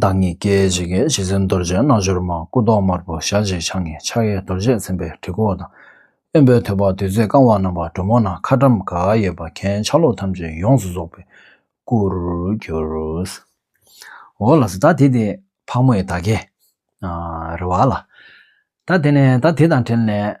བདག་ཉིད་སྐད་ཅིག་གིས་གཞི་འཛིན་རྡོ་རྗེའི་རྣལ་འབྱོར་མ་སྐུ་མདོག་དམར་པོ་ཞལ་གཅིག་ཕྱག་གཉིས་ཕྱག་གཡས་རྡོ་རྗེས་མཚན་པའི་གྲི་གུག་དང། གཡོན་པས་ཐོད་པ་བདུད་རྩིས་བཀང་བ་བསྣམས་པ་གྲུ་མོ་ནང་ཁ་ཀྲམ་ག་གཡས་པ་གན་ཆ་ལུགས་ཐམས་ཅད་ཡོངས་སུ་རྫོགས་པའི་སྐུར་གྱུར། འོ་ལགས་སོ་ད་དེ་དེ་ཕག་མོ་ཡི་ད་གས། རེ་བ་ལ། ད་དེ་ནས་ད་དེ་དང་བྲལ་ནས།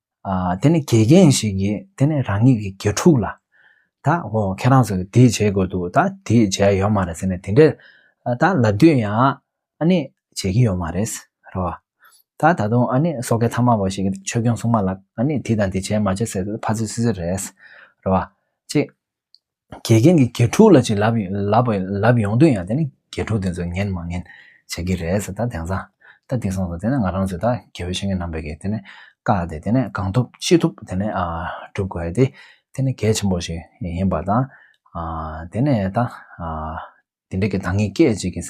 དེ་ནི་དགེ་རྒན་ཞིག་གིས་དེ་ནི་རང་ཉིད་ཀྱི་དགེ་ཕྲུག་ལ། ད་ཧོ་ཁྱེད་རང་ཚོ་དེ་བྱེད་དགོས་འདུག་ད་དེ་བྱས་ཡོད་མ་རེད་ཟེར་ནས་དེ་འདྲས་ད་ལབ་དུས་ཡང་ཨ་ནི་བྱེད་ཀྱི་ཡོད་མ་རེད། རེད་བ། ད་ད་དུང་ཨ་ནི་སོ་ཁའི་ཐ་མ་བ་ཞིག་གིས་ཆོས་སྐྱོང་སྲུང་མ་ལ་ཨ་ནི་དེ་དང་དེ་བྱས་མ་བྱས་ཟེར་དུས་ཕ་ཚོད་སུད་སུད་རེད། རེད་བ། ཅེས། དགེ་རྒན་གྱི་དགེ་ཕྲུག་ལ་ཅིག་ལབ་ལབ་ཡོང་དུས་ཡང་དེ་ནི་དགེ་ཕྲུག་དེ་ཚོས་ངན་མ་ངན་བྱེད་ཀྱི་རེད་ཟེར་ད་དེང་སང་ད་དེ་སོང་ཟེར་དེ་ནི་ང་རང་ཚོས་ད་དགེ་བའི་བཤེས་གཉེན་རྣམ་པས་ཀྱིས་དེ་ནི་བཀག་སྟེ་དེ་ནི་གང་ཐུབ་ཅི་ཐུབ་དེ་ནི་སྒྲུབ་དགོས་ཏེ་དེ་ནི་གལ་ཆེན་པོ་ཞིག་ཡིན་པ་དང། དེ་ནས་ད་དེ་འདྲ་གི་ད་ངས་སྐད་ཅིག་གིས།